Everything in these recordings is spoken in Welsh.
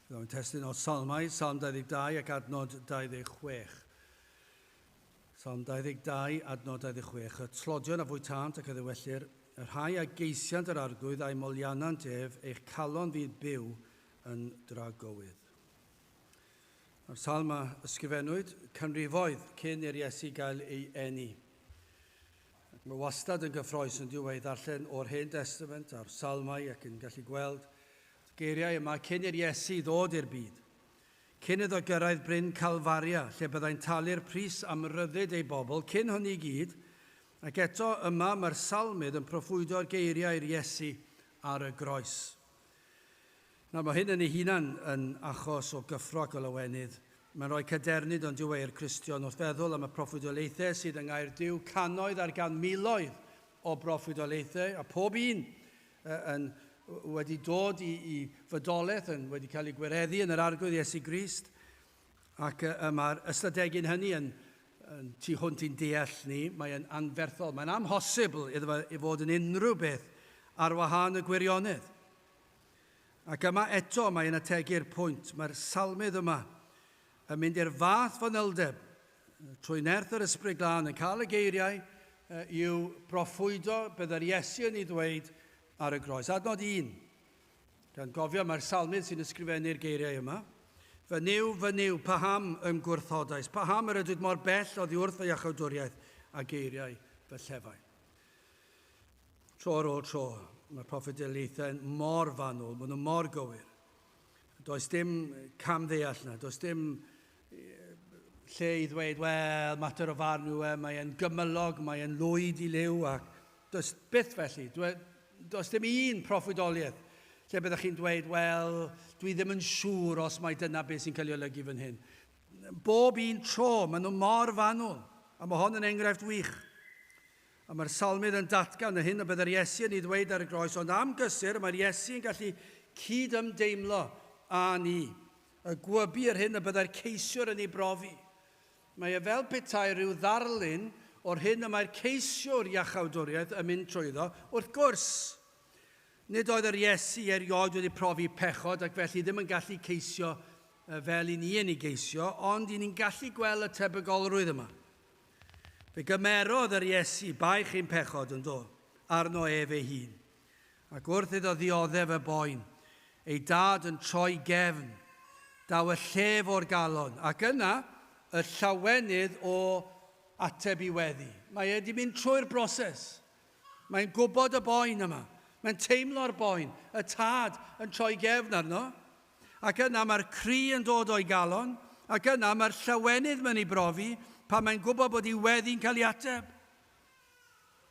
Byddaf yn testyn o Salmau, Salm 22 ac adnod 26. Salm 22, adnod 26. Y tlodion a fwytant ac a ddywellir, y rhai a geisiant yr arglwydd a'i molianant ef, eich calon fydd byw yn dragowydd. Mae'r salm a ysgrifennwyd canrifoedd cyn i'r Iesu gael ei eni. Mae wastad yn gyffroes yn dyw ei ddarllen o'r Hen Destament a'r Salmau ac yn gallu gweld y geiriau yma cyn i'r Iesu ddod i'r byd. Cyn iddo gyrraedd bryn Calfaria, lle byddai'n talu'r pris am ryddid ei bobl cyn hynny i gyd, ac eto yma mae'r Salmydd yn proffwydo'r geiriau i'r Iesu ar y groes. Nawr, mae hyn yn ei hunan yn achos o gyffro ac o lawenydd. Mae'n rhoi cadernid ond dyw e i'r Cristion wrth feddwl am y proffwydoliaethau sydd yng Ngair Duw, cannoedd ar gan miloedd o broffwydoliaethau, a phob un yn wedi dod i fodolaeth, yn wedi cael ei gwireddu yn yr Arglwydd Iesu Grist. Ac y mae'r ystadegyn hynny yn, yn tu hwnt i'n deall ni, mae'n anferthol, mae'n amhosibl iddo fe i fod yn unrhyw beth ar wahân y gwirionedd. Ac yma eto mae'n ategu'r pwynt, mae'r salmydd yma yn mynd i'r fath fanyldeb trwy nerth yr Ysbryd Glân yn cael y geiriau i'w broffwydo beth yr Iesu yn ei ddweud ar y groes. Adnod 1, Gan gofio mai'r Salmydd sy'n ysgrifennu'r geiriau yma. Fy Nuw, fy Nuw, paham yn gwrthodais? Paham yr ydwyd mor bell oddi wrth fy iachawdwriaeth a geiriau fy llefain? Tro ar ôl tro, mae'r proffedeliaethau'n mor fanwl, maen nhw mor gywir. Does dim cam ddeall na, does dim lle i ddweud, wel, mater o farn yw e, mae e'n gymylog, mae e'n lwyd i liw, ac does byth felly. E, does dim un proffwydoliaeth lle byddwch chi'n dweud, wel, dwi ddim yn siŵr os mae dyna beth sy'n cael ei olygu fan hyn. Bob un tro, maen nhw mor fanwl, a mae hon yn enghraifft wych. A mae'r salmydd yn datgan y hyn y byddai'r Iesu yn ei ddweud ar y groes, ond am gysur mae'r Iesu yn gallu cyd-ymdeimlo â ni. Y gwybu yr hyn y byddai'r ceisiwr yn ei brofi. Mae e fel petai rhyw ddarlun o'r hyn y mae'r ceisiwr iachawdwriaeth yn mynd trwyddo, wrth gwrs. Nid oedd yr Iesu erioed wedi profi pechod ac felly ddim yn gallu ceisio fel i ni yn ei geisio, ond i ni'n gallu gwel y tebygolrwydd yma. Fe gymerodd yr Iesu baich ein pechod, yndo, arno ef ei hun. Ac wrth iddo ddioddef y boen, ei dad yn troi gefn, daw y llef o'r galon, ac yna, y llawenydd o ateb i weddi. Mae e 'di mynd trwy'r broses. Mae'n gwybod y boen yma. Mae'n teimlo'r boen, y tad yn troi gefn arno. Ac yna mae'r cri yn dod o'i galon, ac yna mae'r llawenydd mewn i brofi pan mae'n gwybod bod ei weddi'n cael ei ateb.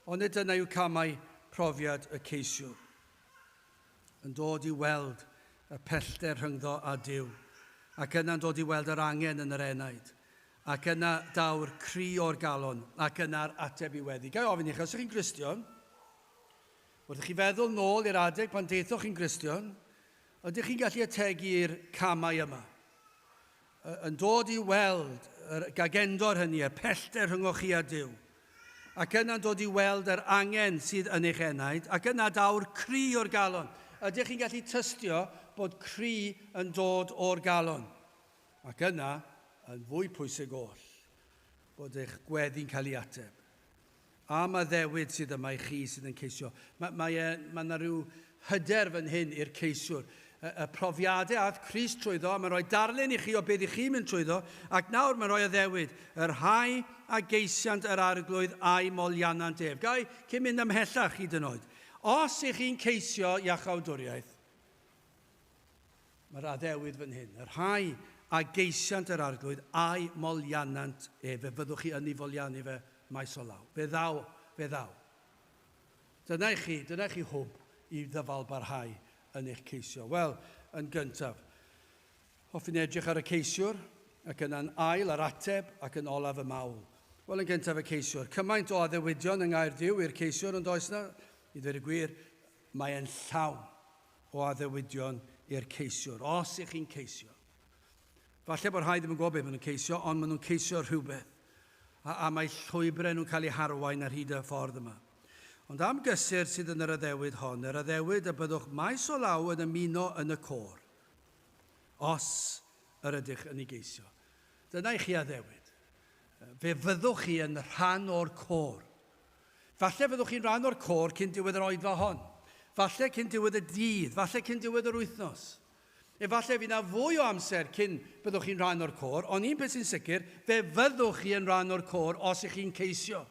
Onid dyna yw camau profiad y ceisiwr? Yn dod i weld y pellter rhyngddo a Duw, ac yna'n dod i weld yr angen yn yr enaid, ac yna daw'r cri o'r galon, ac yna'r ateb i weddi. Gai ofyn i chi, os ych chi'n Gristion, wrth i chi feddwl nôl i'r adeg pan daethoch chi'n Gristion, ydych chi'n gallu ategu i'r camau yma? yn dod i weld yr gagendor hynny, y pellter rhyngoch chi a Duw, ac yna'n dod i weld yr angen sydd yn eich enaid, ac yna daw'r cri o'r galon. Ydych chi'n gallu tystio bod cri yn dod o'r galon? Ac yna, yn fwy pwysig oll, bod eich gweddi'n cael ei ateb. Am addewid sydd yma i chi sydd yn ceisio. Mae, mae, e, mae yna rhyw hyder fan hyn i'r ceisiwr. Y, y profiadau ath Chris trwyddo, a mae'n rhoi darlun i chi o beth i chi mynd trwyddo, ac nawr mae'n rhoi addewid, y rhai a geisiant yr Arglwydd a'i molianant ef. Gai, cyn mynd ymhellach hyd yn oed. Os ych chi'n ceisio iachawdwriaeth, Mae'r addewid fan hyn. Y rhai a geisiant yr Arglwydd, a'i molianant ef, fe fyddwch chi ynni folianu fe maes o law. Fe ddaw, fe ddaw. Dyna i chi, dyna i chi hwb i ddyfalbarhau yn eich ceisio. Wel, yn gyntaf, hoffwn edrych ar y ceisiwr, ac yna'n ail ar ateb, ac yn olaf y mawl. Wel, yn gyntaf y ceisiwr. Cymaint o addewidion yng Nghaerdyw i'r ceisiwr, yn does na? I ddweud y gwir, mae e'n llawn. o addewidion i'r ceisiwr, os ych chi'n ceisio. Falle bod rhai ddim yn gwybod beth maen nhw'n ceisio, ond maen nhw'n ceisio rhywbeth, a, a mae llwybrau nhw'n cael eu harwain ar hyd y ffordd yma. Ond am gysur sydd yn yr addewid hon, yr addewid y byddwch maes o law yn ymuno yn y côr, os yr ydych yn ei geisio. Dyna i chi addewid. Fe fyddwch chi yn rhan o'r côr. Falle fyddwch chi'n rhan o'r côr cyn diwedd yr oedfa hon. Falle cyn diwedd y dydd. Falle cyn diwedd yr wythnos. Efallai fydd 'na fwy o amser cyn byddwch chi'n rhan o'r côr, ond un peth sy'n sicr, fe fyddwch chi yn rhan o'r côr os y'ch chi'n ceisio.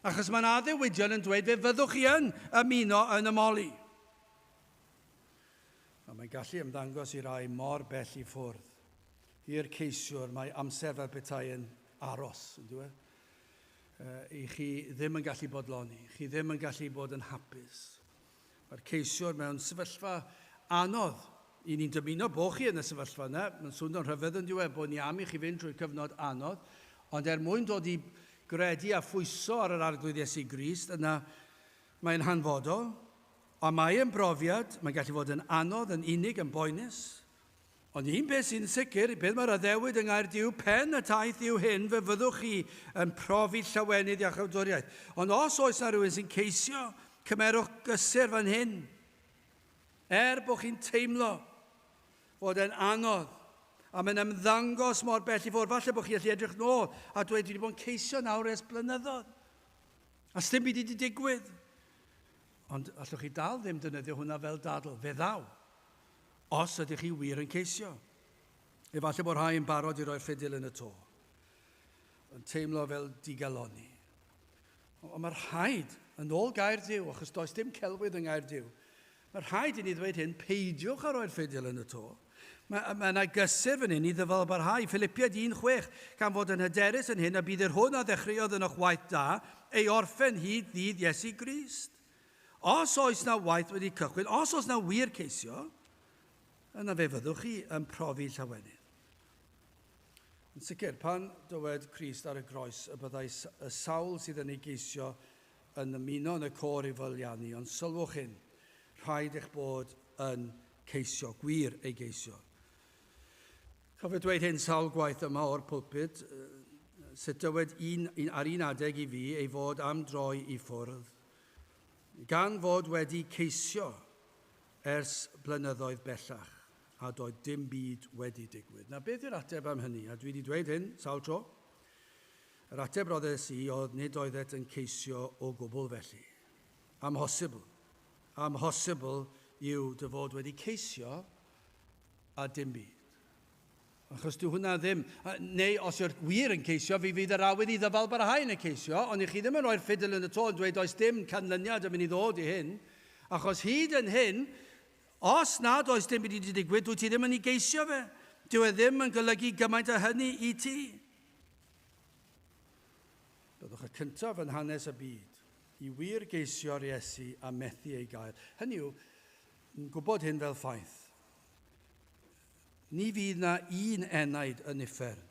Achos mae 'na addewidion yn dweud fe fyddwch chi yn ymuno yn y Moli. A mae'n gallu ymddangos i rai mor bell i ffwrdd. I'r ceisiwr, mae amser fel petai yn aros, yn dyw e? Ych chi ddim yn gallu bodloni, chi ddim yn gallu bod yn hapus. Mae'r ceisiwr mewn sefyllfa anodd. I ni'n dymuno bod chi yn y sefyllfa yna, mae'n swnio'n rhyfedd yn diwedd bod ni am i chi fynd drwy cyfnod anodd, ond er mwyn dod i gredu a phwyso ar yr Arglwydd Iesu Grist, yna mae'n hanfodol, a mae yn brofiad, mae'n gallu fod yn anodd, yn unig, yn boenus. Ond un peth sy'n sicr, y peth mae'r addewid yng Nghaerdyw pen y taith yw hyn, fe fyddwch chi yn profi llawenydd i'ch awdwriaeth. Ond os oes na rhywun sy'n ceisio, cymerwch gysur fan hyn. Er bod chi'n teimlo fod e'n anodd, a mae'n ymddangos mor bell i ffwrdd, falle bod chi allu edrych nôl a dweud, dwi wedi bod yn ceisio nawr ers blynyddoedd, a sdim byd wedi digwydd. Ond allwch chi dal ddim dynyddio hwnna fel dadl, fe ddaw. Os ydych chi wir yn ceisio. Efallai bod rhai yn barod i roi'r ffidil yn y to. Yn teimlo fel digalonni. Ond mae rhaid, yn ôl gair Dyw, achos does dim celwydd yng ngair Dyw, mae rhaid i ni ddweud hyn, peidiwch â rhoi'r ffidil yn y to. Mae, mae yna gysur fan hyn i ddyfalbarhau, Filipiaid 1.6, gan fod yn hyderus yn hyn a bydd yr hwn a ddechreuodd ynoch waith da ei orffen hyd ddydd Iesu Grist. Os oes na waith wedi cychwyn, os oes na wir ceisio, yna fe fyddwch chi yn profi llawenydd. Yn sicr, pan dywed Christ ar y groes y byddai y sawl sydd yn ei geisio yn ymuno yn y côr i fyllianu, ond sylwch hyn, rhaid eich bod yn ceisio, gwir ei geisio. Cofio dweud hyn sawl gwaith yma o'r pulpud, sut dywed un, un ar un adeg i fi ei fod am droi i ffwrdd, gan fod wedi ceisio ers blynyddoedd bellach, a doedd dim byd wedi digwydd. Na beth yw'r ateb am hynny, a dwi wedi dweud hyn sawl tro. Yr ateb roddes i oedd nid oeddet yn ceisio o gwbl felly. Amhosibl. Amhosibl yw dy fod wedi ceisio a dim byd. Achos dyw hwnna ddim, neu os yw'r gwir yn ceisio, fi fydd yr awydd i ddyfal barhau yn y ceisio, ond i chi ddim yn rhoi'r ffidil yn y to yn dweud does dim canlyniad yn mynd i ddod i hyn, achos hyd yn hyn, os nad oes dim byd wedi digwydd, dwi ti ddim yn ei geisio fe. Dyw e ddim yn golygu gymaint o hynny i ti. Byddwch y cyntaf yn hanes y byd i wir geisio'r Iesu a methu ei gael. Hynny yw, Yn gwybod hyn fel ffaith, ni fydd na un enaid yn uffern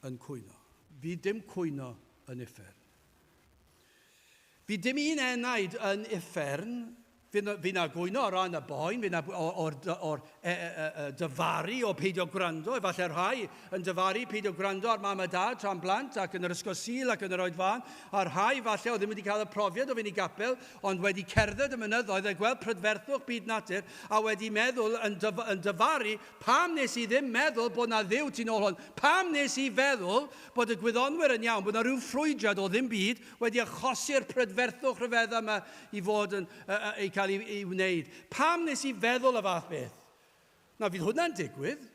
yn cwyno. Fydd dim cwyno yn uffern. Fydd dim un enaid yn uffern Fy na gwyno o ran y boen, fy na o'r, or, e, e, e, e, dyfaru o peidio gwrando, efallai rhai yn dyfaru peidio gwrando ar mam a dad tra'n blant ac yn yr ysgol sil ac yn yr oed fan, a rhai falle o ddim wedi cael y profiad o fynd i gapel, ond wedi cerdded y mynyddoedd a gweld prydferthwch byd natur a wedi meddwl yn, dyf yn dyfaru pam wnes i ddim meddwl bod na dduw tu nôl hwn? Pam wnes i feddwl bod y gwyddonwyr yn iawn, bod na rhyw ffrwydriad o ddim byd wedi achosi'r prydferthwch rhyfedda yma i fod yn uh, uh, ei cael ei, ei wneud? Pam wnes i feddwl y fath beth? Na, fydd hwnna'n digwydd.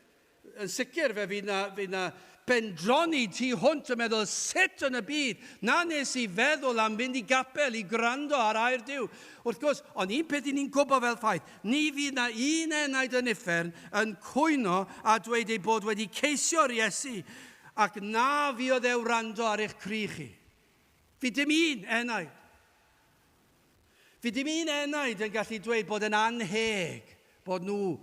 Yn sicr, fe fydd 'na, fydd 'na bendroni tu hwnt yn meddwl, sut yn y byd na wnes i feddwl am fynd i gapel i gwrando ar air Duw? Wrth gwrs, ond un peth 'yn ni'n gwybod fel ffaith, ni fydd 'na un enaid yn uffern yn cwyno a dweud ei bod wedi ceisio'r Iesu ac na fuodd e wrando ar eich cri chi. Fydd dim un enaid. Fe ddim un enaid yn gallu dweud bod yn annheg bod nhw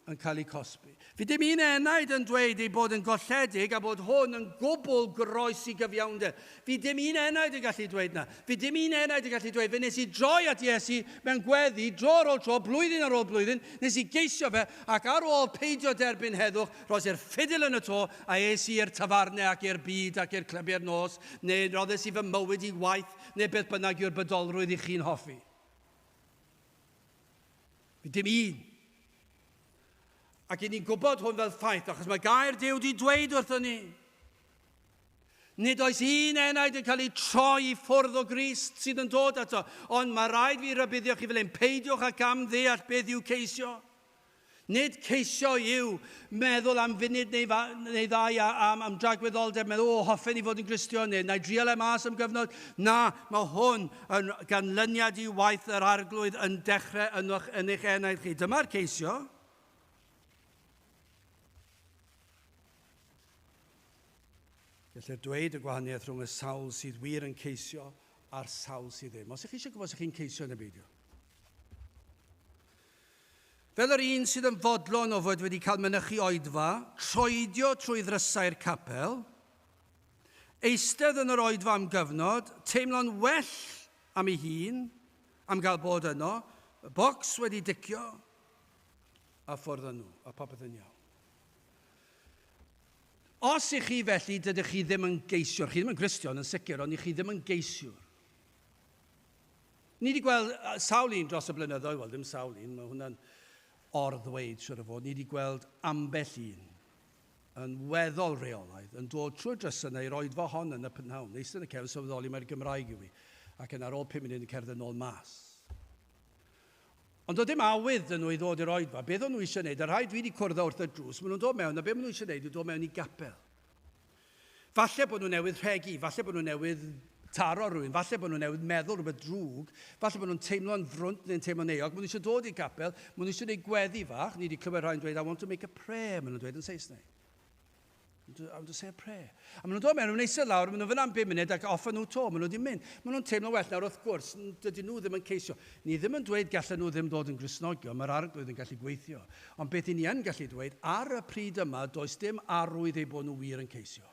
yn cael eu cosbi. Fe ddim un enaid yn dweud ei bod yn golledig a bod hwn yn gwbl groes i gyfiawnder. Fe ddim un enaid yn gallu dweud na. Fe ddim un enaid yn gallu dweud, fe nes i droi at Iesu mewn gweddi, dro ar ôl tro, blwyddyn ar ôl blwyddyn, nes i geisio fe, ac ar ôl peidio derbyn heddwch, roes i'r ffidil yn y to, a es i i'r tafarne ac i'r byd ac i'r clybiau'r nos, neu roddes i fy mywyd i waith, neu beth bynnag yw'r bydolrwydd i chi'n hoffi. Bydd dim un. Ac i ni'n gwybod hwn fel ffaith, achos mae gair Dyw di dweud wrthyn ni. Nid oes un enaid yn cael ei troi i ffwrdd o Grist sydd yn dod ato, ond mae rhaid fi rybuddio chi fel ein peidiwch ac am ddeall beth yw ceisio. Nid ceisio yw meddwl am funud neu, fa, neu ddau am, am dragwyddoldeb, meddwl, o, hoffen i fod yn Gristion, neu na i drial e mas am gyfnod. Na, mae hwn yn ganlyniad i waith yr Arglwydd yn dechrau ynoch yn eich enaid chi. Dyma'r ceisio. Gellir dweud y gwahaniaeth rhwng y sawl sydd wir yn ceisio a'r sawl sydd ddim. Os ych chi eisiau gwybod os ych chi'n ceisio neu beidio. Fel yr un sydd yn fodlon o fod wedi cael mynychu oedfa, troedio trwy ddrysau'r capel, eistedd yn yr oedfa am gyfnod, teimlo'n well am ei hun, am gael bod yno, y bocs wedi dicio, a ffwrdd â nhw, a popeth yn iawn. Os i chi felly, dydych chi ddim yn geisiwr, chi ddim yn Gristion yn sicr, ond i chi ddim yn geisiwr. Ni wedi gweld sawl un dros y blynyddoedd, wel ddim sawl un, mae hwnna'n or-ddweud siwr o fod, ni wedi gweld ambell un yn weddol reolaidd yn dod trwy'r drysau i'r oedfa hon yn y p'nawn, eistedd yn y cefn sylweddoli mai'r Gymraeg yw hi, ac yna ar ôl pum munud yn cerdded yn ôl mas. Ond oedd dim awydd dyn nhw i ddod i'r oedfa. Beth o'n nhw eisiau gwneud? Y rhai dwi wedi cwrdd â wrth y drws, maen nhw'n dod mewn a beth maen nhw eisiau gwneud yw dod mewn i gapel. Falle bod nhw newydd rhegi, falle bod nhw newydd taro rhywun, falle bod nhw newydd meddwl rhywbeth drwg, falle bod nhw'n teimlo'n frwnt neu'n teimlo'n euog, maen nhw eisiau dod i'r capel, maen nhw eisiau gwneud gweddi fach, ni wedi clywed rhai'n dweud, I want to make a prayer, maen nhw'n dweud yn Saesneg. I want to say a prayer. A maen nhw'n dod mewn, maen nhw'n eisiau lawr, maen nhw fyna am 5 munud ac off nhw to, maen nhw wedi mynd. Maen nhw'n teimlo well nawr wrth gwrs, dydyn nhw ddim yn ceisio. Ni ddim yn dweud gallen nhw ddim dod yn grisnogion, mae'r arglwydd yn gallu gweithio. Ond beth 'y ni yn gallu dweud, ar y pryd yma, does dim arwydd eu bod nhw wir yn ceisio.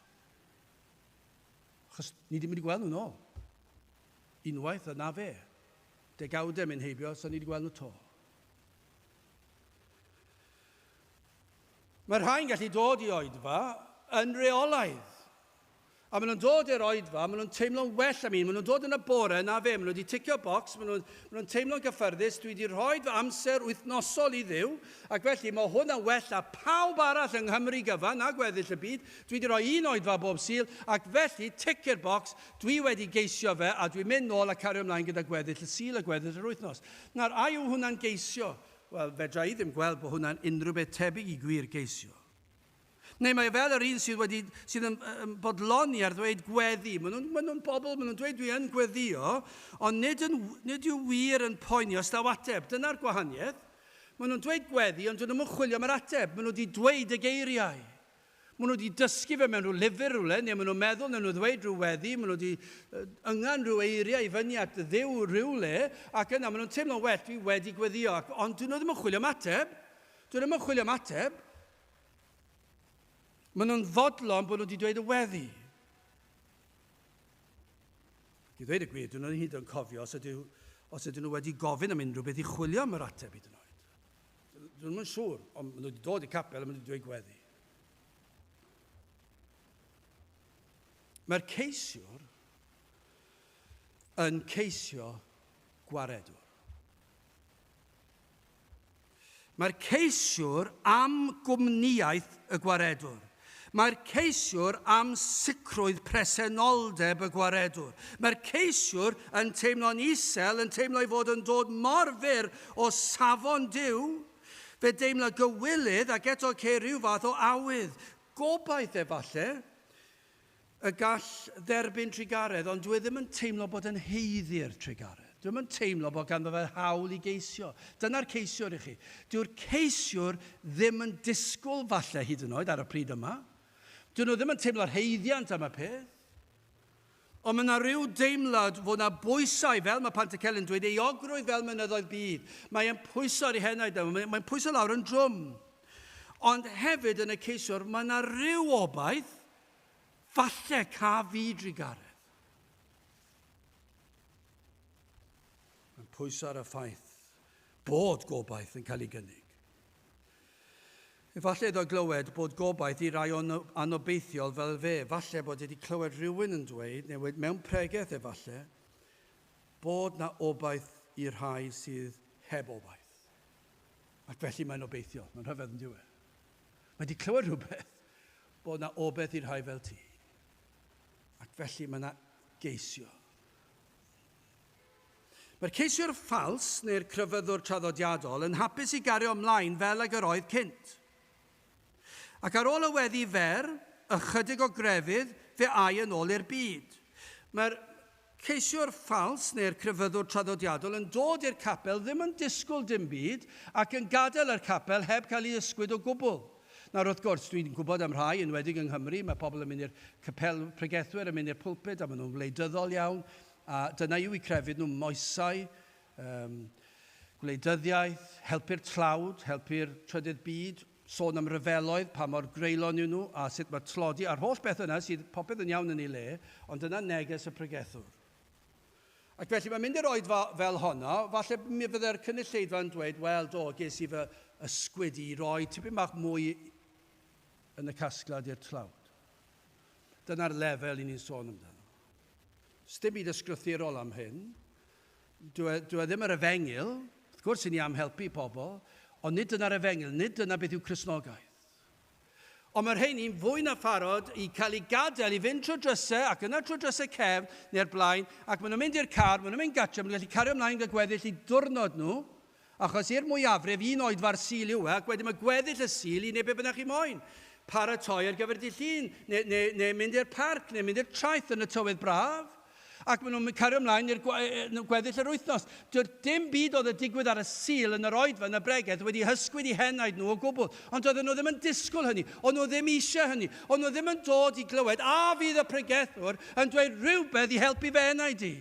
Achos ni ddim wedi gweld nhw'n ôl. Unwaith, a na fe. Degawdau yn mynd heibio, so ni wedi gweld nhw to. Mae rhai'n gallu dod i oedfa yn reolaidd. A maen nhw'n dod i'r oedfa, maen nhw'n teimlo'n well am un, maen nhw'n dod yn y bore, na fe, maen nhw wedi ticio bocs, maen nhw, maen nhw'n teimlo'n gyffyrddus, dwi wedi rhoi fy amser wythnosol i Dduw, ac felly mae hwn yn well na phawb arall yng Nghymru gyfan, na gweddill y byd, dwi wedi rhoi un oedfa bob Sul, ac felly, tic i'r bocs, dwi wedi geisio fe, a dwi'n mynd nôl a cario ymlaen gyda gweddill y Sul a gweddill yr wythnos. Nawr, a yw hwnna'n geisio? Wel, fedra i ddim gweld bod hwnna'n unrhyw beth tebyg i gwir geisio. Neu mae fel yr un sydd wedi, sydd yn, yn bodloni ar ddweud gweddi. Maen nhw'n ma nhw bobl, maen nhw'n dweud dwi yn gweddio, ond nid, yn, nid yw wir yn poeni os daw ateb. Dyna'r gwahaniaeth. Maen nhw'n dweud gweddi, ond dyn nhw'n chwilio am yr ateb. Maen nhw wedi dweud y geiriau. Maen nhw wedi dysgu fe mewn rhyw lyfr rhywle, neu maen nhw'n meddwl neu nhw ddweud rhyw weddi, maen nhw wedi yngan rhyw eiriau i fyny at ddew rhywle, ac yna maen nhw'n teimlo'n well, dwi wedi gweddio, ac, ond dyn nhw ddim yn chwilio am ateb. Dyn nhw ddim yn chwilio am ateb. Maen nhw'n fodlon bod nhw wedi dweud y weddi. I ddweud y gwir, dyn nhw'n hyd yn cofio os ydyn, os ydyn nhw wedi gofyn am unrhyw beth i chwilio am yr ateb hyd yn oed. Dyn nhw'n siŵr, ond maen nhw wedi dod i capel a maen nhw wedi dweud gweddi. Mae'r ceisiwr yn ceisio gwaredwr. Mae'r ceisiwr am gwmnïaeth y gwaredwr. Mae'r ceisiwr am sicrwydd presenoldeb y gwaredwr. Mae'r ceisiwr yn teimlo'n isel, yn teimlo ei fod yn dod mor fyr o safon Duw, fe deimla gywilydd ac eto ceir rhyw fath o awydd, gobaith efalle, Y gall dderbyn trugaredd, ond dwi ddim yn teimlo bod yn haeddu i'r trugaredd. Dwi'm yn teimlo bod ganddo fe hawl i geisio. Dyna'r ceisiwr i chi. Dyw'r ceisiwr ddim yn disgwyl, falle, hyd yn oed ar y pryd yma. Dyn nhw ddim yn teimlo'r haeddiant am y peth. Ond mae yna rhyw deimlad fod yna bwysau, fel mae Pantycelyn yn dweud, euogrwydd fel mynyddoedd byd. Mae'n pwyso ar ei henaid, mae'n pwyso lawr yn drwm. Ond hefyd yn y ceisiwr mae yna ryw obaith, falle ca fi drugaredd. Mae'n pwyso ar y ffaith bod gobaith yn cael ei gynnig. Efallai iddo glywed bod gobaith i rai o'n anobeithiol fel fe, falle bod wedi clywed rhywun yn dweud, neu wedi mewn pregeth efallai, bod na obaith i rhai sydd heb obaith. Ac felly mae'n obeithiol. Mae'n rhyfedd yn diwe. Mae wedi clywed rhywbeth bod na obeth i'r rhai fel ti. Ac felly mae na geisio. Mae'r ceisiwr ffals neu'r crefyddwr traddodiadol yn hapus i gario ymlaen fel ag yr oedd cynt. Ac ar ôl y weddi fer, ychydig o grefydd, fe âi yn ôl i'r byd. Mae'r ceisiwr ffals neu'r crefyddwr traddodiadol yn dod i'r capel ddim yn disgwyl dim byd ac yn gadael yr capel heb cael ei ysgwyd o gwbl. Nawr, wrth gwrs, dwi'n gwybod am rhai, enwedig yng Nghymru, mae pobl yn mynd i'r capel, pregethwyr yn mynd i'r pulpud a maen nhw'n wleidyddol iawn a dyna yw eu crefydd nhw, moesau, Yym, gwleidyddiaeth, helpu'r tlawd, helpu'r trydydd byd, sôn am ryfeloedd, pa mor greulon yw nhw, a sut mae tlodi, a'r holl bethau yna sydd popeth yn iawn yn ei le, ond dyna neges y pregethwr. Ac felly mae'n mynd i'r oedfa fel honno, falle mi fydde'r cynulleidfa yn dweud, wel do, ges i fy ysgwyd i roi tipyn bach mwy yn y casglad i'r tlawd. Dyna'r lefel i ni'n sôn amdano. Sdim byd ysgrythurol am hyn. Dyw e, dyw e ddim yr efengyl, wrth gwrs i ni am helpu pobl, ond nid dyna'r efengyl, nid dyna beth yw Cristnogaeth. Ond mae'r rheini'n fwy na pharod i cael ei gadael i fynd trwy drysau ac yna trwy drysau cefn neu'r blaen ac maen nhw'n mynd i'r car, maen nhw'n mynd gatre, maen nhw'n gallu cario ymlaen gyda gweddill i diwrnod nhw Achos i'r mwyafrif un oedfa'r Sul yw e ac wedyn mae gweddill y Sul i wneud be bynnag chi moyn. Paratoi ar gyfer dydd Llun, neu, neu, neu mynd i'r parc, neu mynd i'r traeth yn y tywydd braf. Ac maen nhw'n cario ymlaen i'r gweddill yr wythnos. Doedd dim byd oedd y digwydd ar y Sul yn yr oedfa yn y bregeth wedi hysgwyd i henaid nhw o gwbl. Ond doedden nhw ddim yn disgwyl hynny. O'n nhw ddim eisiau hynny. O'n nhw ddim yn dod i glywed, 'A fydd y pregethwr yn dweud rhywbeth i helpu fy enaid i?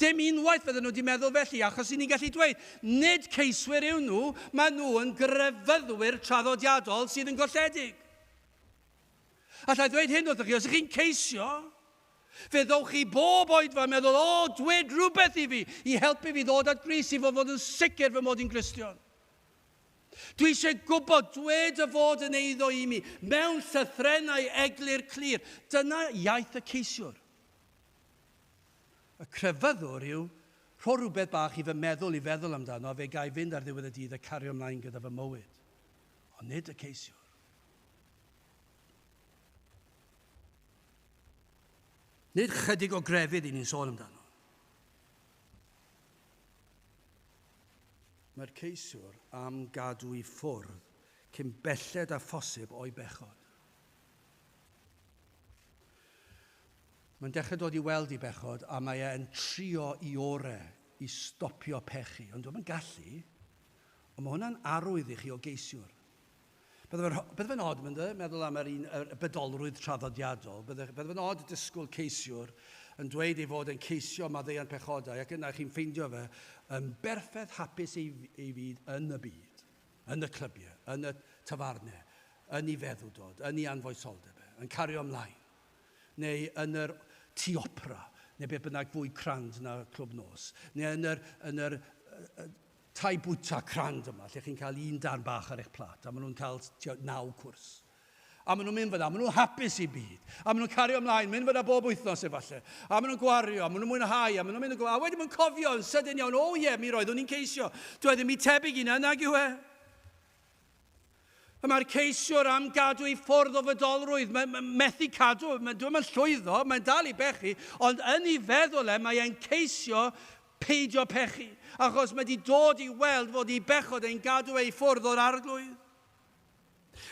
Dim unwaith fydden nhw wedi meddwl felly, achos i ni'n gallu dweud, nid ceiswyr yw nhw, maen nhw yn grefyddwyr traddodiadol sydd yn golledig. Alla i ddweud hyn wrthych chi, os ych chi'n ceisio, fe ddowch chi bob oed fa meddwl, o, oh, dwed rhywbeth i fi, i helpu fi ddod at gris i fod fod yn sicr fy mod i'n Gristion. Dwi eisiau gwybod, dwed y fod yn eiddo i mi, mewn llythrenau eglur clir. Dyna iaith y ceisiwr. Y crefyddwr yw rho rhywbeth bach i fy meddwl i feddwl amdano a fe ga i fynd ar ddiwedd y dydd a cario ymlaen gyda fy mywyd. Ond nid y ceisiwr. Nid chydig o grefydd i ni'n sôn amdano. Mae'r ceisiwr am gadw i ffwrdd cyn belled â phosib o'i bechod. Mae'n dechrau dod i weld ei bechod a mae e'n trio i ore i stopio pechu, ond dyw e'm yn gallu. Ond mae hwnna'n arwydd i chi o geisiwr. Bydde fe'n bydde fe'n od, mynd e, meddwl am yr un y bedolrwydd traddodiadol, bydde, bydde fe'n od disgwyl ceisiwr yn dweud ei fod e'n ceisio maddeuant pechodau ac yna chi'n ffeindio fe yn berffaith hapus ei, ei fyd yn y byd, yn y clybiau, yn y tafarnau, yn ei feddwdod, yn ei anfoesoldeb e, yn cario ymlaen. neu yn yr Tŷ Opera, neu beth bynnag fwy crand na Clwb Nos, neu yn yr, yn yr tai bwyta crand yma, lle chi'n cael un darn bach ar eich plat, a maen nhw'n cael naw cwrs. A maen nhw'n mynd fyna, maen nhw'n hapus i byd. A maen nhw'n cario ymlaen, mynd fyna bob wythnos efallai. A maen nhw'n gwario, maen nhw'n mwynhau, a maen nhw'n mynd yn gwario. A wedyn maen nhw'n cofio yn sydyn iawn, o oh, ie, yeah, mi roeddwn i'n ceisio. Dwi e ddim i tebyg i na, nag yw e? Y mae'r ceisiwr am gadw i ffwrdd o fydolrwydd, mae'n mae methu cadw, mae'n dweud mae'n llwyddo, mae'n dal i bechu, ond yn ei feddwl e mae e'n ceisio peidio pechu, achos mae wedi dod i weld fod ei bechod e'n gadw ei ffwrdd o'r arglwydd.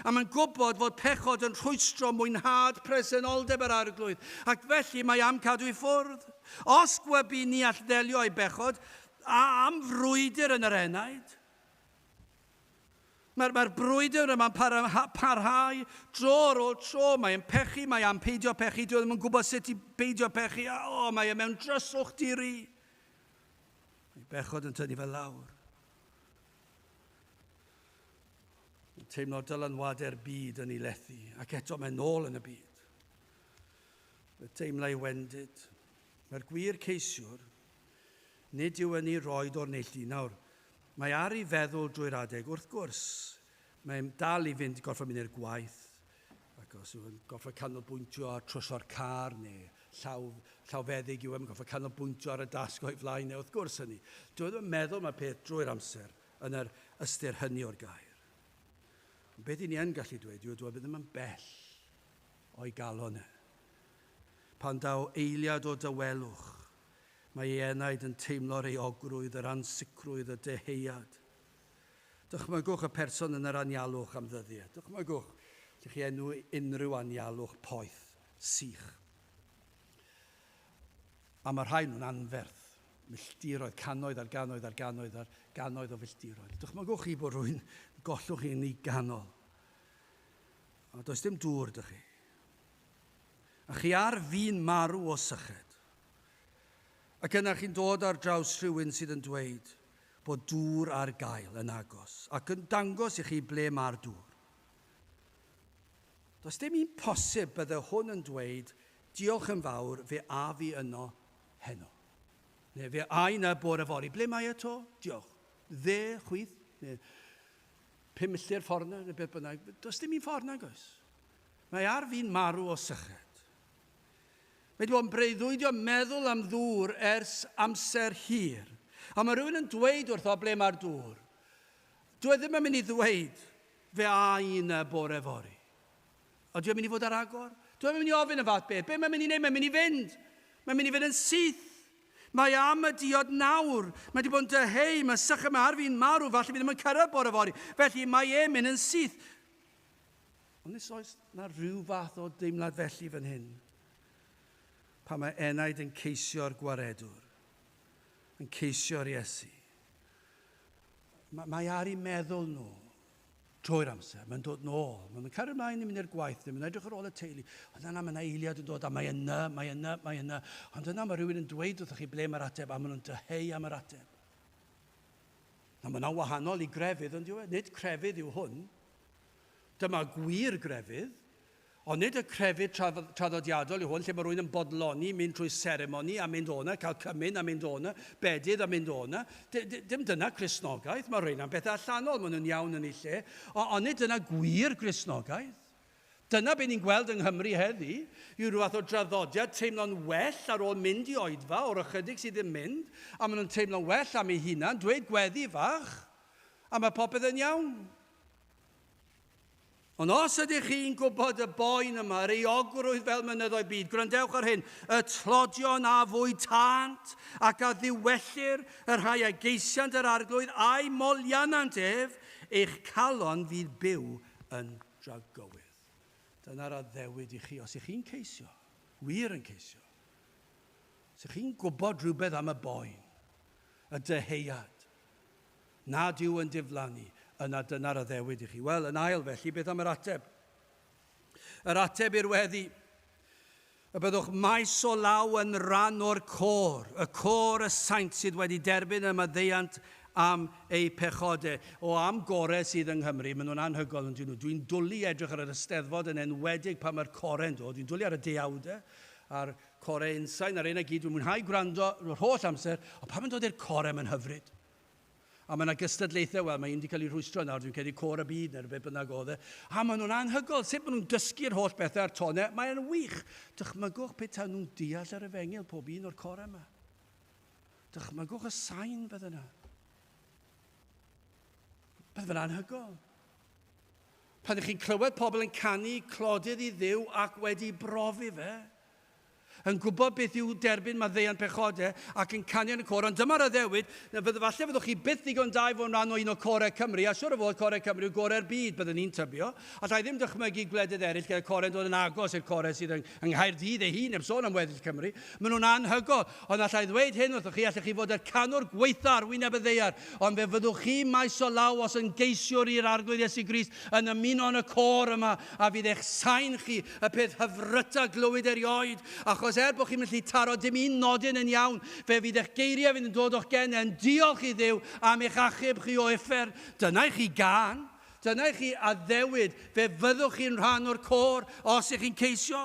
A mae'n gwybod fod pechod yn rhwystro mwynhad presenoldeb yr arglwydd, ac felly mae am cadw i ffwrdd. Os gwybu ni all ddelio â'i bechod, a am frwydr yn yr enaid, Mae'r mae brwydr yma'n parha, parhau dro ar ôl tro. Mae e'n pechu, mae am peidio pechu, dwi e ddim yn gwybod sut i beidio pechu, a o, mae e mewn dryswch di-ri. Mae bechod yn tynnu fe lawr. Yn teimlo dylanwadau'r byd yn ei lethu, ac eto mae'n nôl yn y byd. Fe teimla ei wendid. Mae'r gwir ceisiwr, nid yw yn ei roed o'r neilltu nawr, Mae ar i feddwl drwy'r adeg, wrth gwrs. Mae'n dal i fynd, gorfod mynd i'r gwaith, ac os yw'n gorfod canolbwyntio ar troso'r car neu llaw, llawfeddyg yw e, mae'n gorfod canolbwyntio ar y dasg o'i flaen e, wrth gwrs hynny. Dwi e ddim yn meddwl mae peth drwy'r amser yn yr ystyr hynny o'r gair. Ond beth i ni yn gallu dweud yw, dwi e ddim yn bell o'i galon e. Pan daw eiliad o dawelwch, Mae ei enaid yn teimlo'r euogrwydd, yr ansicrwydd, y deheuad. Dychmygwch y person yn yr anialwch am ddyddiau. Dychmygwch, ydych chi enw unrhyw anialwch poeth, sych. A mae rhai nhw'n anferth, milltiroedd, cannoedd ar gannoedd ar gannoedd ar gannoedd o filltiroedd. Dychmygwch chi bod rhywun gollwch chi'n ei ganol. A does dim dŵr dych chi. A chi ar fin marw o syched. Ac yna chi'n dod ar draws rhywun sydd yn dweud bod dŵr ar gael yn agos ac yn dangos i chi ble mae'r dŵr. Does dim un posib bydde hwn yn dweud diolch yn fawr fe a fi yno heno. Neu fe a i na bore fori. Ble mae e to? Diolch. Dde, chwith, neu pum milltir ffordd na, neu beth bynnag. Does dim un ffordd nag oes. Mae ar fi'n marw o syched. Mae dwi o'n breuddwydio meddwl am ddŵr ers amser hir. A mae rhywun yn dweud wrtho ble mae'r dŵr. Dwi e ddim yn mynd i ddweud fe a un y bore fory. A dwi yn mynd i fod ar agor? Dwi yn mynd i ofyn y fath beth. Be mae'n mynd i wneud? Mae'n mynd i fynd. Mae'n mynd i fynd yn syth. Mae am y diod nawr. Mae di bod yn dyheu, mae sycha mae ar fi'n marw, falle fi ddim yn cyrraedd bore fory. Felly mae e'n mynd yn syth. Ond os oes 'na ryw fath o deimlad felly fan hyn, pan mae enaid yn ceisio'r Gwaredwr, yn ceisio'r Iesu, mae ar i meddwl nhw trwy'r amser. Mae'n dod nôl. Mae'n cario ymlaen i mynd i'r gwaith. Mae'n edrych ar ôl y teulu. Ond yna mae yna eiliad yn dod a mae yna, mae yna, mae yna. Ond yna mae rhywun yn dweud wrthych chi ble mae'r ateb a maen nhw'n dyheu am yr ateb. Na, mae yna wahanol i grefydd yn diwedd. Nid crefydd yw hwn. Dyma gwir grefydd. Ond nid y crefydd traddodiadol yw hwn, lle mae rhywun yn bodloni, mynd trwy seremoni a mynd o'na, cael cymyn a mynd o'na, bedydd a mynd o'na. Dim dyna Cristnogaeth. Mae rheina'n bethau allanol, maen nhw'n iawn yn eu lle, ond nid dyna gwir Gristnogaeth. Dyna be ni'n gweld yng Nghymru heddi, yw rhyw fath o draddodiad teimlo'n well ar ôl mynd i oedfa o'r ychydig sydd ddim mynd, a maen nhw'n teimlo'n well am eu hunan, dweud gweddi fach, a mae popeth yn iawn. Ond os ydych chi'n gwybod y boen yma, yr eogrwydd fel mynyddoedd byd, gwrandewch ar hyn, y tlodion a fwy tant ac a ddiwellir y rhai a geisiant yr arglwydd a'i molianant ef, eich calon fydd byw yn dragywydd. Dyna'r addewid i chi, os ych chi'n ceisio, wir yn ceisio, os ych chi'n gwybod rhywbeth am y boen, y dyheuad, nad yw yn diflannu, yna dyna'r addewid i chi. Wel, yn ail, felly, beth am yr ateb? Yr ateb i'r weddi, y byddwch maes o law yn rhan o'r côr, y côr y saint sydd wedi derbyn y maddeuant am eu pechodau. O am gore sydd yng Nghymru, maen nhw'n anhygoel yn dyn nhw. Dwi'n dwlu edrych ar yr ysteddfod yn enwedig pan mae'r core'n dod. Dwi'n dwlu ar y deuawdau a'r corau unsain a'r un a gyd. Dwi'n mwynhau gwrando yr holl amser, ond pan mae'n dod i'r corau mae'n hyfryd. A mae yna gystadlaethau, wel mae un wedi cael ei rhwystro nawr, dwi'n credu Cor y Byd neu rhywbeth bynnag oedd e. A maen nhw'n anhygoel, sut maen nhw'n dysgu'r holl bethau a'r tonau, mae'n wych. Dychmygwch petawn nhw'n deall yr efengyl pob un o'r corau yma. Dychmygwch y sain bydd yna. Bydd yn anhygoel. Pan ydych chi'n clywed pobl yn canu clodydd i ddiw ac wedi brofi fe, yn gwybod beth yw derbyn maddeuant pechodau ac yn canu yn y côr, ond dyma'r addewid, na fydd, falle fyddwch chi byth ddigon da i fod yn rhan o un o corau Cymru, a siwr o fod corau Cymru yw gorau'r byd, byddwn i'n tybio, alla i ddim dychmygu gwledydd eraill gyda corau'n dod yn agos i'r corau sydd yng Nghaerdydd ei hun, heb sôn am weddill Cymru, maen nhw'n anhygoel, ond alla i ddweud hyn wrthoch chi, allech chi fod yr canwr gwaetha ar wyneb y ddaear, ond fe fyddwch chi maes o law os yn geisiwr i'r Arglwydd Iesu Grist yn ymuno yn y côr yma, a fydd eich sain chi Y peth hyfryta glywyd erioed, achos er bod chi'n gallu taro dim un nodyn yn iawn, fe fydd eich geiriau fydd yn dod o'ch gen yn diolch i Dduw am eich achub chi o uffern. Dyna i chi gân. Dyna i chi addewid. Fe fyddwch chi'n rhan o'r côr os ych chi'n ceisio.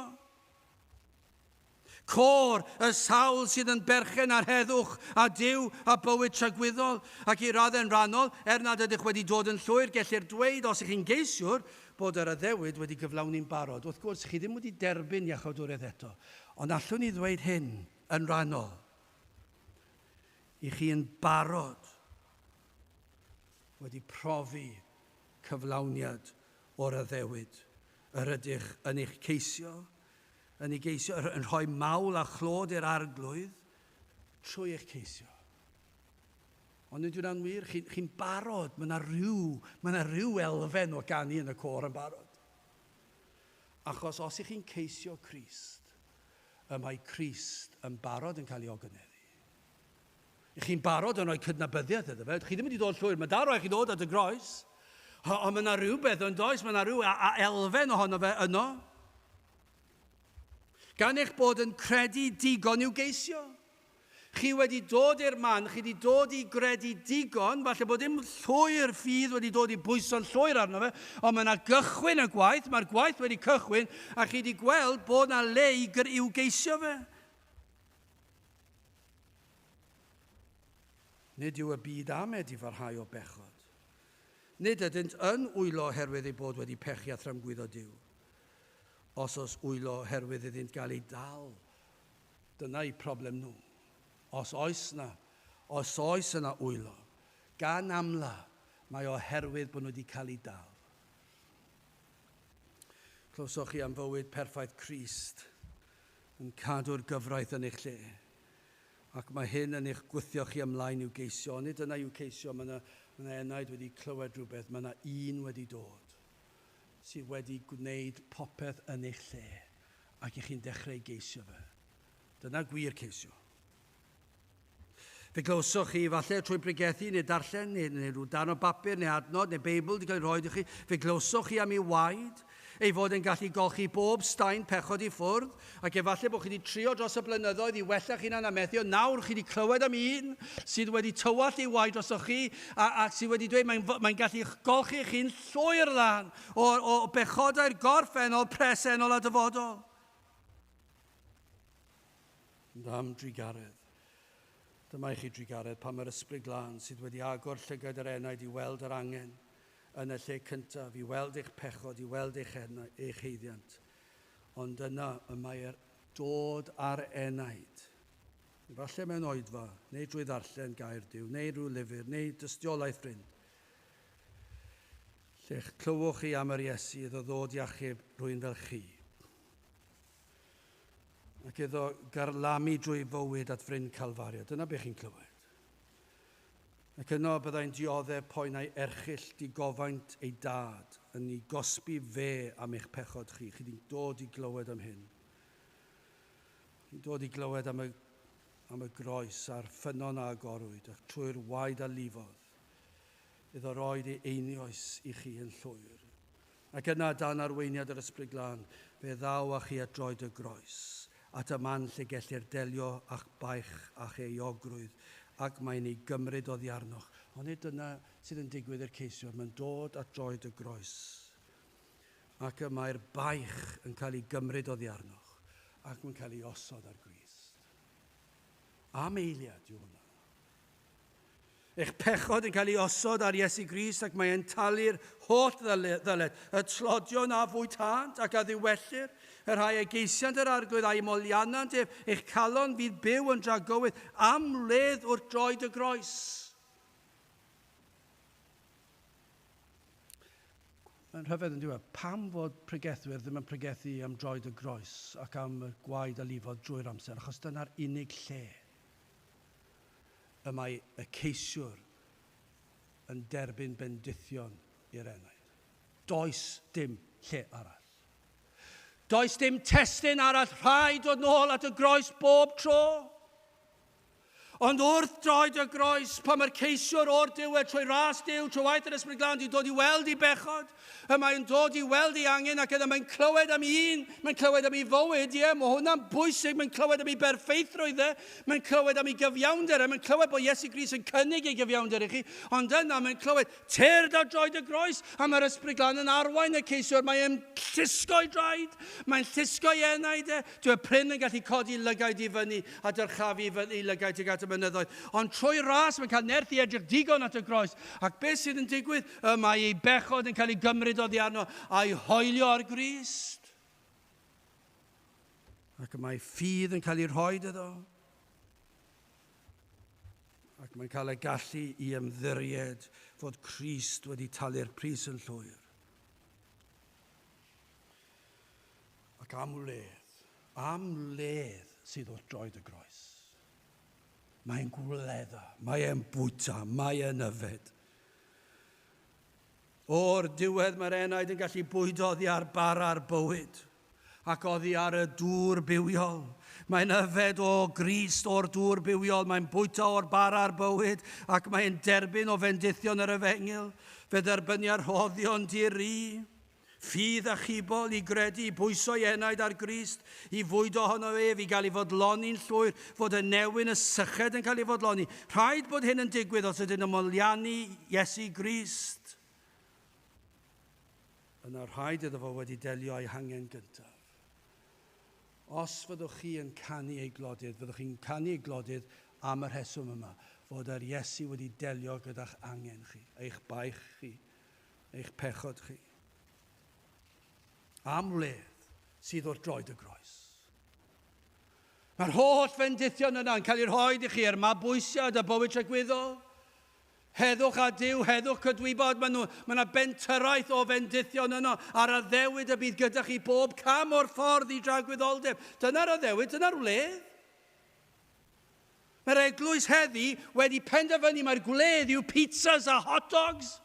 Côr, y sawl sydd yn berchen ar heddwch a Duw a bywyd tragwyddol, ac i raddau'n rhannol, er nad ydych wedi dod yn llwyr, gellir dweud, os y'ch chi'n geisiwr, bod yr addewid wedi gyflawni'n barod. Wrth gwrs, chi ddim wedi derbyn Iachawdwriaeth eto, ond allwn i ddweud hyn, yn rhannol, i chi yn barod wedi profi cyflawniad o'r addewid yr ydych yn eich ceisio, Yn ei geisio, yr yn rhoi mawl a chlod i'r Arglwydd trwy eich ceisio. Ond nid yw'n wir, chi'n chi barod, mae yna rhyw, mae yna rhyw elfen o ganu yn y côr yn barod. Achos os ych chi'n ceisio Crist, y mae Crist yn barod yn cael ei ogyneddu. Ych chi'n barod yn rhoi cydnabyddiaeth iddo fe. Ydych chi ddim wedi dod llwyr. Mae dal rhaid chi ddod at y groes. Ond mae yna rhywbeth yn does, mae yna rhyw elfen ohono fe yno. Gan eich bod yn credu digon i'w geisio. Chi wedi dod i'r man, chi wedi dod i gredu digon, falle bod dim llwyr ffydd wedi dod i bwyso'n llwyr arno fe, ond mae yna gychwyn y gwaith, mae'r gwaith wedi cychwyn, a chi wedi gweld bod yna le i i'w geisio fe. Nid yw y byd amed i farhau o bechod. Nid ydynt yn wylo oherwydd eu bod wedi pechu a thrymgwyddo Duw. Os os wylo oherwydd iddynt gael eu dal, dyna eu problem nhw. Os oes na, os oes yna wylo, gan amla mae oherwydd bod nhw wedi cael eu dal. Clywsoch chi am fywyd perffaith Crist? yn cadw'r gyfraith yn eich lle, ac mae hyn yn eich gwthio chi ymlaen i'w geisio, ond nid dyna yw ceisio, mae yna, mae yna enaid wedi clywed rhywbeth, mae yna un wedi dod, sydd wedi gwneud popeth yn eich lle, ac y'ch chi'n dechrau geisio fe. Dyna gwir ceisio. Fe glywsoch chi, falle trwy bregethu neu darllen neu, neu rhyw dan o bapur neu adnod neu Beibl wedi cael ei rhoi i chi, fe glywsoch chi am ei waed, ei fod yn gallu golchi bob staen pechod i ffwrdd, ac efallai bod chi wedi trio dros y blynyddoedd i wella chi hunan a methu, ond nawr chi wedi clywed am un sydd wedi tywallt ei waed drosoch chi a, a sydd wedi dweud mae'n mae gallu golchi chi'n llwyr lan o, o bechodau'r gorffennol, presennol a dyfodol. Am drugaredd. Dyma i chi drugaredd pan mae'r Ysbryd Glân sydd wedi agor llygaid yr enaid i weld yr angen yn y lle cyntaf, i weld eich pechod, i weld eich, eich heiddiant. Ond yna y mae'r dod â'r enaid, efallai mewn oedfa, neu drwy ddarllen gair Duw, neu rhyw lyfr, neu dystiolaeth brin, lle'ch clywwch chi am yr Iesu iddo ddod i achub rhywun fel chi. Ac iddo garlamu drwy fywyd at fryn Calfario. Dyna be chi'n clywed. Ac yno byddai'n dioddef poen a'i erchyll digofaint ei dad yn ei gosbi fe am eich pechod chi. Chi di'n dod i glywed am hyn. Chi'n dod i glywed am y, am y groes a'r ffynnon a agorwyd, ac trwy'r waed a lifodd, iddo roed ei einioes i chi yn llwyr. Ac yna, dan arweiniad yr Ysbryd Glân, fe ddaw â chi at droed y Groes, at y man lle gellir delio â'ch baich a'ch euogrwydd, ac mae'n ei gymryd oddi arnoch. Ond nid dyna sydd yn digwydd i'r ceisiwr. Mae'n dod at droed y Groes, ac y mae'r baich yn cael ei gymryd oddi arnoch, ac mae'n cael ei osod ar Grist. Am eiliad yw hwnna. Eich pechod yn cael ei osod ar Iesu Grist ac mae e'n talu'r holl ddyled, y tlodion a fwytânt ac a ddiwellir, y rhai a geisiant yr Arglwydd a'i molianant ef, eich calon fydd byw yn dragywydd am wledd wrth droed y groes. Mae'n rhyfedd yn diwedd. Pam fod pregethwyr ddim yn pregethu am droed y groes ac am y gwaed a lifod drwy'r amser? Achos dyna'r unig lle y mae y ceisiwr yn derbyn bendithion i'r enaid. Does dim lle arall. Does dim testun arall rhaid dod nôl at y groes bob tro. Ond wrth droed y groes, pan mae'r ceisiwr o'r diwedd trwy ras Dyw, trwy waith yr Ysbryd Glân, di dod i weld i bechod, Y mae'n dod i weld ei angen ac yna mae'n clywed am un, mae'n clywed am ei fywyd, ie, yeah, mae hwnna'n bwysig, mae'n clywed am ei berffeithrwydd e, mae'n clywed am ei gyfiawnder e, mae'n clywed bod Iesu Gris yn cynnig ei gyfiawnder i chi, ond yna mae'n clywed, tyrd ar droed y groes, a mae'r ysbryd glan yn arwain y ceisiwr, mae e'n llusgo ei draed, mae'n llusgo ei enaid e, dyw'r pryn yn gallu codi lygaid i fyny a dyrchafu i lygaid tuag at y mynyddoedd, ond trwy ras mae'n cael nerth i edrych digon at y groes, ac beth sydd yn digwydd? Y mae ei bechod yn cael ei gymryd oddi arno a'i hoelio ar Grist. Ac y mae ffydd yn cael ei rhoi iddo. Ac mae'n cael y gallu i ymddiried fod Crist wedi talu'r pris yn llwyr. Ac am wledd, am wledd sydd wrth droed y groes. Mae'n gwledda, mae'n bwyta, mae'n yfed. O'r diwedd mae'r enaid yn gallu bwydo oddi ar bara'r bywyd ac oddi ar y dŵr bywiol. Mae'n yfed o grist o'r dŵr bywiol, mae'n bwyta o'r bara'r bywyd ac mae'n derbyn o fendithion yr efengyl. Fe dderbynia rhoddion di-ri. Ffydd achubol i gredu, pwyso i enaid ar Grist, i fwydo ohono ef, i gael ei fodloni'n llwyr, fod y newyn, y syched yn cael ei fodloni. Rhaid bod hyn yn digwydd os ydyn nhw'n moliannu Iesu Grist. Yna rhaid iddo fo wedi delio â'i hangen gyntaf. Os fyddwch chi yn canu ei glodydd, fyddwch chi'n canu ei glodydd am y rheswm yma, fod yr Iesu wedi delio gyda'ch angen chi, eich baich chi, eich pechod chi. Am wledd sydd wrth droed y groes. Mae'r holl fendithion yna yn cael eu rhoi i chi er mabwysiad a bywyd tragwyddol. Heddwch a Dyw, heddwch cydwybod, mae, nhw, mae yna bentyraeth o fendithion yno ar addewyd y bydd gyda chi bob cam o'r ffordd i dragwyddoldeb. Dyna'r addewyd, dyna'r wledd. Mae'r eglwys heddi wedi penderfynu mae'r gwledd yw pizzas a hot dogs.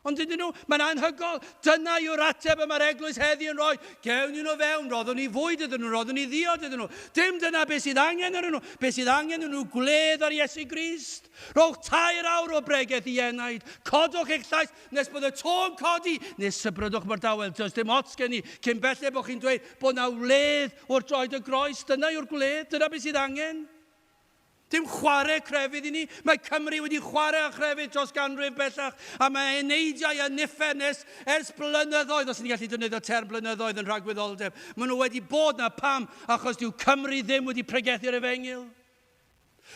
Ond dydyn nhw, mae'n anhygol. Dyna yw'r ateb y mae'r eglwys heddi yn rhoi. Gewn nhw fewn, roddwn ni fwyd iddyn nhw, roddwn ni ddiod iddyn nhw. Dim dyna beth sydd angen ar nhw. Beth sydd angen yn nhw gwledd ar Iesu Grist. Rhowch tair awr o bregeth i enaid. Codwch eich llais. Nes bod y to'n codi, nes sybrydwch mae'r dawel. Does dim ots gen i, cyn belled bod chi'n dweud bod na wledd wrth droed y groes. Dyna yw'r gwledd, dyna beth sydd angen. Dim chwarae crefydd i ni. Mae Cymru wedi chwarae â chrefydd dros ganrif bellach, a mae eneidiau a niffer nes ers blynyddoedd, os ni'n gallu defnyddio term blynyddoedd yn rhagwyddoldeb, maen nhw wedi bod na pam, achos dyw Cymru ddim wedi pregethu'r efengyl.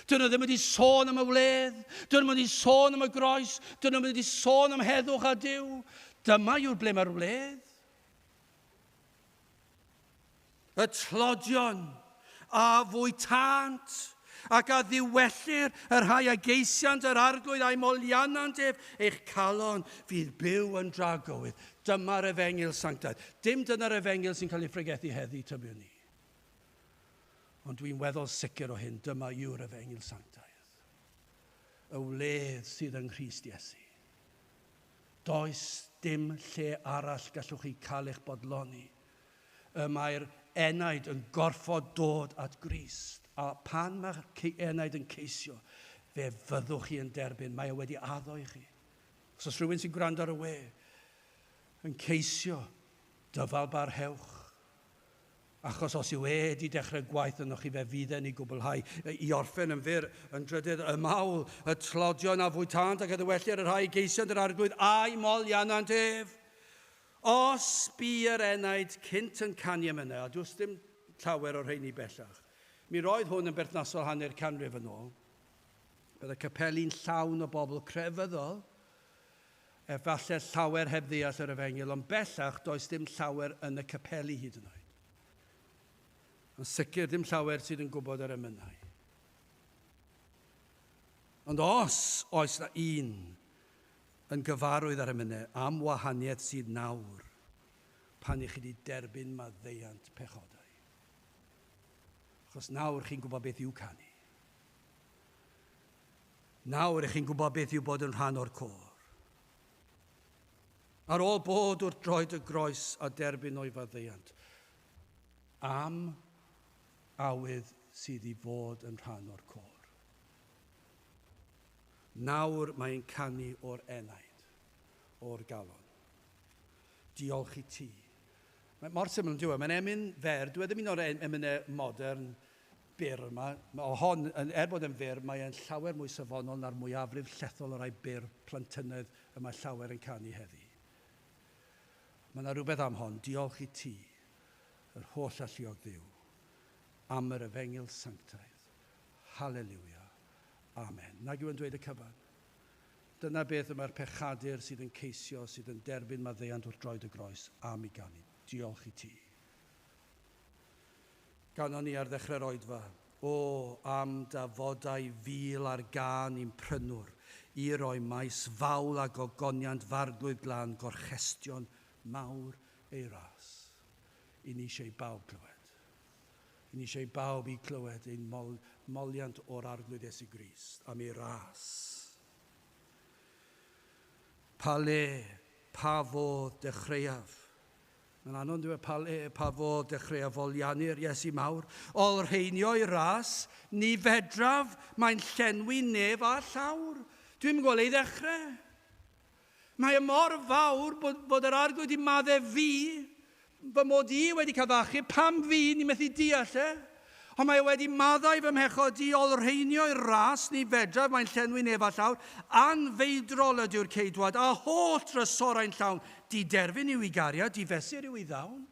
Dyn nhw ddim wedi sôn am y wledd, dyn nhw wedi sôn am y groes, dyn nhw wedi sôn am heddwch a Dyw. Dyma yw'r ble mae'r wledd. Y tlodion a fwytant ac a ddiwellir y rhai a geisiant yr arglwydd a'i molianant ef, eich calon fydd byw yn dragowydd. Dyma'r efengil sanctaidd. Dim dyna'r efengil sy'n cael ei phregethu heddi, tybiwn ni. Ond dwi'n weddol sicr o hyn, dyma yw'r efengyl sanctaidd. Y wledd sydd yng Nghrist Iesu. Does dim lle arall gallwch chi cael eich bodloni. Y mae'r enaid yn gorfod dod at Grist, a pan mae'r enaid yn ceisio, fe fyddwch chi yn derbyn, mae e wedi addo i chi. Os oes rhywun sy'n gwrando ar y we, yn ceisio, dyfal barhewch. Achos os yw e 'di dechrau gwaith ynoch chi fe fydd e'n ei gwblhau i orffen yn fyr, yn drydydd, ym Mawl, y tlodion a fwytânt ac a ddywelir y rhai y geisiant yr Arglwydd a'u molianant ef. Os bu yr enaid cynt yn canu emynau, a does dim llawer o'r rheiny bellach, mi roedd hwn yn berthnasol hanner canrif yn ôl, byddai capeli'n llawn o bobl crefyddol, Efallai llawer heb ddeall yr Efengyl, ond bellach does dim llawer yn y capeli hyd yn oed. Yn sicr, dim llawer sydd yn gwybod yr emynau. Ond os oes na un yn gyfarwydd â'r emynau am wahaniaeth sydd nawr pan i chi wedi derbyn maddeuant pechodau. Achos nawr chi'n gwybod beth i'w canu. Nawr, 'ych chi'n gwybod beth yw bod yn rhan o'r côr. Ar ôl bod wrth droed y groes a derbyn o'i faddeuant am awydd sydd i fod yn rhan o'r côr. Nawr mae e'n canu o'r enaid, o'r galon. Diolch i ti. Mae mor syml yn diwedd. Mae'n emyn fer, dwi ddim un o'r emynau modern, byr yma. Mae hon, er bod e'n fyr, mae e'n llawer mwy safonol na'r mwyafrif llethol o rai byr plentynnedd y mae llawer yn canu heddi. Mae yna rhywbeth am hon, diolch i ti, yr holl alluog Dduw, am yr efengyl sanctaidd. Haleliwia. Amen. Nag yw e'n dweud y cyfan? Dyna beth y mae'r pechadur sydd yn ceisio, sydd yn derbyn maddeuant wrth droed y groes, am i ganu. Diolch i ti. Ganon ni ar ddechre'r oedfa. O, am da fodau fil ar gân i'n prynwr, i roi maes fawl a gogoniant f'arglwydd glân gorchestion mawr ei ras. I ni eisiau i bawb glywed. I ni eisiau i bawb i clywed ein moliant o'r Arglwydd Iesu Grist am ei ras. Pa le, pa fodd dechreuaf? Mae'n anodd dweud pa le, pa fodd dechreuaf foliannu'r Iesu mawr. Olrheinio'i ras, ni fedraf, mae'n llenwi nef a llawr. Dwi'm yn gweld ei ddechrau. Mae e mor fawr bod, bod yr arglwydd wedi madde fi, fy mod i wedi cael fy achub, pam fi, ni methu deall e. Ond mae o wedi maddau fy mhechod i olrheinio i'r ras ni fedraf mae'n llenwi neb a llawr, anfeidrol ydyw'r ceidwad, a holl drysorau'n llawn, diderfyn yw i gariad, difesur yw i ddawn.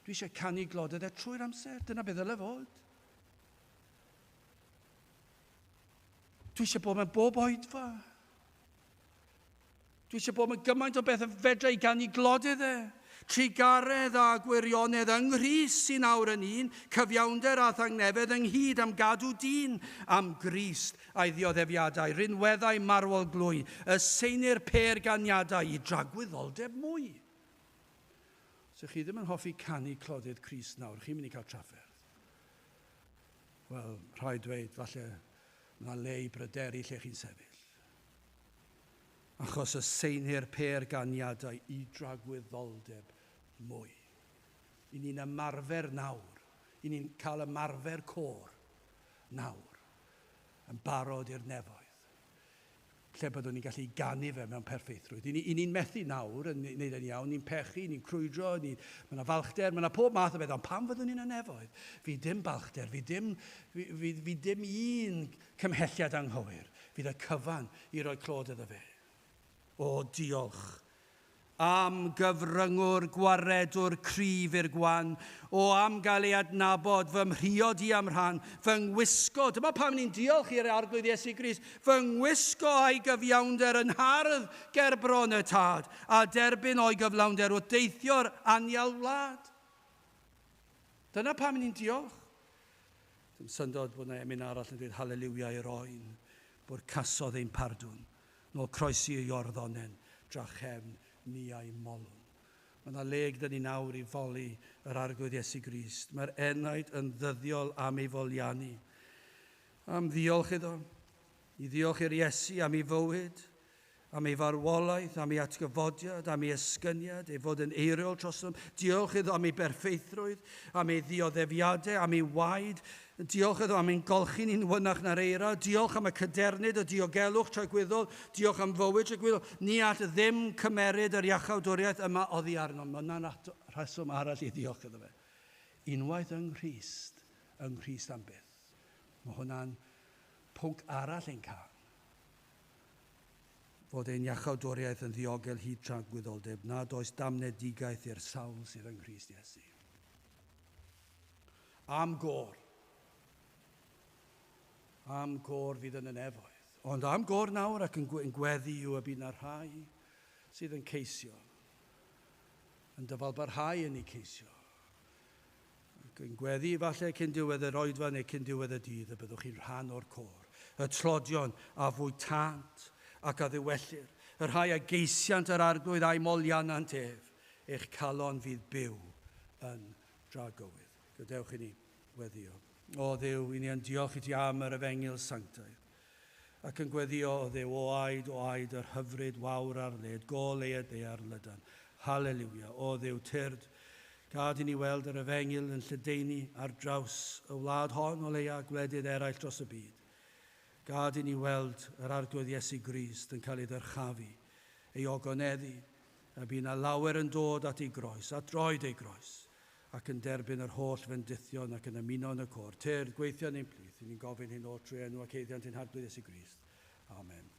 Dwi eisiau canu gloded e trwy'r amser, dyna beth ddyle fod. Dwi eisiau bod mewn bob oedfa. Dwi eisiau bod yn gymaint o beth y fedra i gan i glodydd e. Trugaredd a gwirionedd yng Nghrist sy'n awr yn un, cyfiawnder a thangnefedd ynghyd am gadw dyn, am Grist a'i ddioddefiadau, rinweddau marwol glwy, y seinir pêr ganiadau i dragwyddoldeb mwy. Os chi ddim yn hoffi canu clodydd Crist nawr, chi'n mynd i cael trafferth. Wel, rhaid dweud, falle, mae yna le i bryderu lle chi'n sefyll. achos y seinir pêr ganiadau i dragwyddoldeb mwy. I ni'n ymarfer nawr, i ni'n cael ymarfer côr nawr, yn barod i'r nefoedd, lle byddwn ni'n gallu ganu fe mewn perffeithrwydd. I ni'n methu nawr yn neud e'n iawn, ni'n pechu, ni'n crwydro, ni, mae yna falchder, mae yna pob math o beth, ond pan fyddwn ni'n y nefoedd, fi dim balchder, fi dim, fi, fi, fi dim un Cymhelliad anghywir fydd y cyfan i roi clod iddo fe. O, diolch. Am gyfryngwr, gwaredwr cryf i'r gwan. O, am gael ei adnabod, fy mhriod i a'm rhan, fy ngwisgo, dyma pam ni'n diolch i'r Arglwydd Iesu Grist, fy ngwisgo a'i gyfiawnder yn hardd ger bron y Tad, a derbyn o'i gyflawnder wrth deithio'r anial wlad. Dyna pam ni'n diolch. Dim syndod bod 'na emyn arall yn dweud Haleliwia i'r oen, bwrcasodd ein pardwn, nôl croesi i orddonen, drachefn ni a'i molwn. Mae 'na le gyda ni nawr i foli yr Arglwydd Iesu Grist. Mae'r enaid yn ddyddiol am ei folianu, am ddiolch iddo, i ddiolch i'r Iesu am ei fywyd, am ei farwolaeth, am ei atgyfodiad, am ei esgyniad, ei fod yn eiriol trostom. Diolch iddo am ei berffeithrwydd, am ei ddioddefiadau, am ei waed. Diolch iddo am ein golchi ni'n wynach na'r eira. Diolch am y cadernid, y diogelwch tragwyddol. Diolch am fywyd tragwyddol. Ni all ddim cymeryd yr iachawdwriaeth yma oddi arnom. Mae yna rheswm arall i ddiolch iddo fe. Unwaith yng Nghrist, yng Nghrist am byth. Mae hwnna'n pwnc arall ein cael. fod ein iachawdwriaeth yn ddiogel hyd tra'n gwyddolddeb nad oes damnedigaeth i'r sawl sydd yng Nghrist Iesu. Am gor. Am gor fydd yn y nefoedd. Ond am gor nawr ac yn gweddi yw y bydd na rhai sydd yn ceisio, yn dyfalbarhau yn ei ceisio, ac yn gweddu efallai cyn diwedd yr oedfa neu cyn diwedd y dydd y byddwch chi'n rhan o'r côr, y tlodion a fwytant ac a ddiwellir, y rhai a geisiant yr Arglwydd a'u molianant ef, eich calon fydd byw yn dragywydd. Gadewch i ni weddio. O Dduw, i ni yn diolch i ti am yr Efengyl Sanctaidd. Ac yn gweddio o Dduw o aed o aed yr hyfryd wawr ar led gol ei ed ear lydan. Haleliwia, O Dduw tyrd, gad i ni weld yr efengyl yn lledaenu ar draws y wlad hon o leia gwledydd eraill dros y byd. Gad i ni weld yr Arglwydd Iesu Grist yn cael ei ddyrchafu, ei ogoneddu, a bu na lawer yn dod at ei groes, at droed ei groes, ac yn derbyn yr holl fendithion ac yn ymuno yn y côr tyrd gweithion ein plith, i ni'n gofyn hyn oll trwy enw ac haeddiant ein Harglwydd Iesu Grist. Amen.